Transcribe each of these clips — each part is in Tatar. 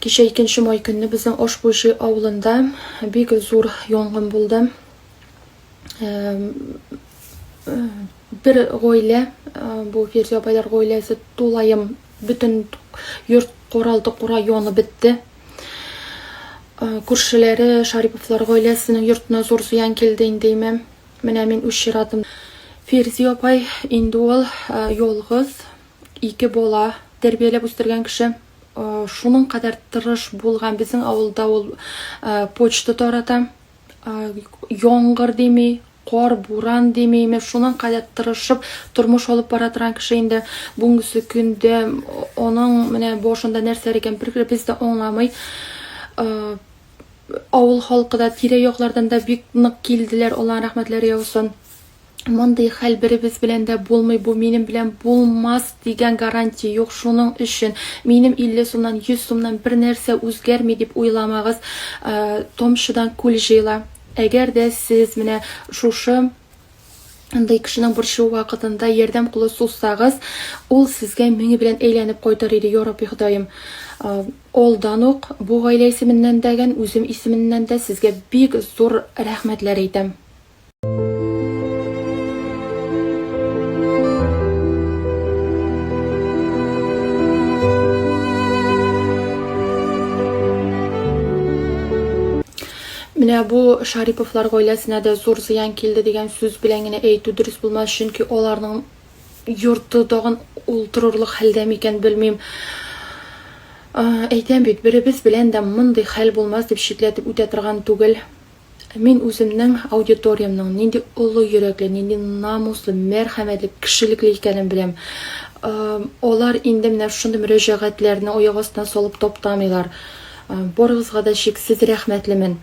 Кичә икенче май көнне безнең Ашбуйши авылында бик зур янгын булды. Бер гаилә, бу Фирзия апайлар гаиләсе тулаем бөтен йорт коралды кура янып бетте. Күршеләре Шариповлар гаиләсенең йортына зур зыян килде инде имә. Менә мин үз чиратым. Фирзи апай инде ул ялгыз ике бала тәрбияләп үстергән кеше. шуның кадәр тырыш булган безнең авылда ул почта тарата яңгыр дими кар буран димейме шуның кадәр тырышып тормыш алып бара торган кеше инде бүгенге көндә аның менә башында нәрсәләр икән бер без дә аңламый авыл халкы да тирә яклардан да бик нык килделәр алланың рәхмәтләре яусын Мондый хәл беребез белән дә булмый, бу минем белән булмас дигән гарантия юк. Шуның өчен минем 50 сумнан, 100 сумнан бер нәрсә үзгәрми дип уйламагыз. Томчыдан күл җыела. Әгәр дә сез менә шушы андый кешенең борчуы вакытында ярдәм кулы сузсагыз, ул сезгә меңе белән әйләнеп кайтыр иде, я Рабби Ходаем. Алдан ук бу гаилә исеменнән дәген, үзем исеменнән дә сезгә бик зур рәхмәтләр әйтәм. Менә бу Шариповлар гаиләсенә дә зур зыян килде дигән сүз белән генә әйтү дөрес булмас, чөнки аларның йорты тагын ул торырлык хәлдә микән белмим. Әйтәм бит, беребез белән дә мондый хәл булмас дип шикләтеп үтә торган түгел. Ә мин үземнең аудиториямнең нинди олы йөрәкле, нинди намуслы, мәрхәмәтле, кешелекле икәнен беләм. Алар инде менә шундый мөрәҗәгатьләрне аяк астына салып таптамыйлар. Барыгызга да чиксез рәхмәтлемен.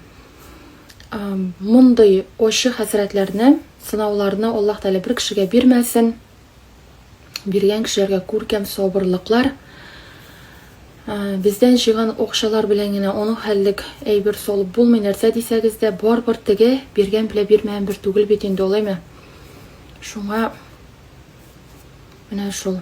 Мондый ачы хәсрәтләрне, сынауларны Аллаһ Тәгалә бер кешегә бирмәсен. биргән кешеләргә күркәм сабырлыклар. Бездән җыйган акчалар белән генә аның хәллек әйбер салып булмый, нәрсә дисәгез дә, барыбер теге биргән белә бирмәгән бер түгел бит инде, алаймы? Шуңа менә шул.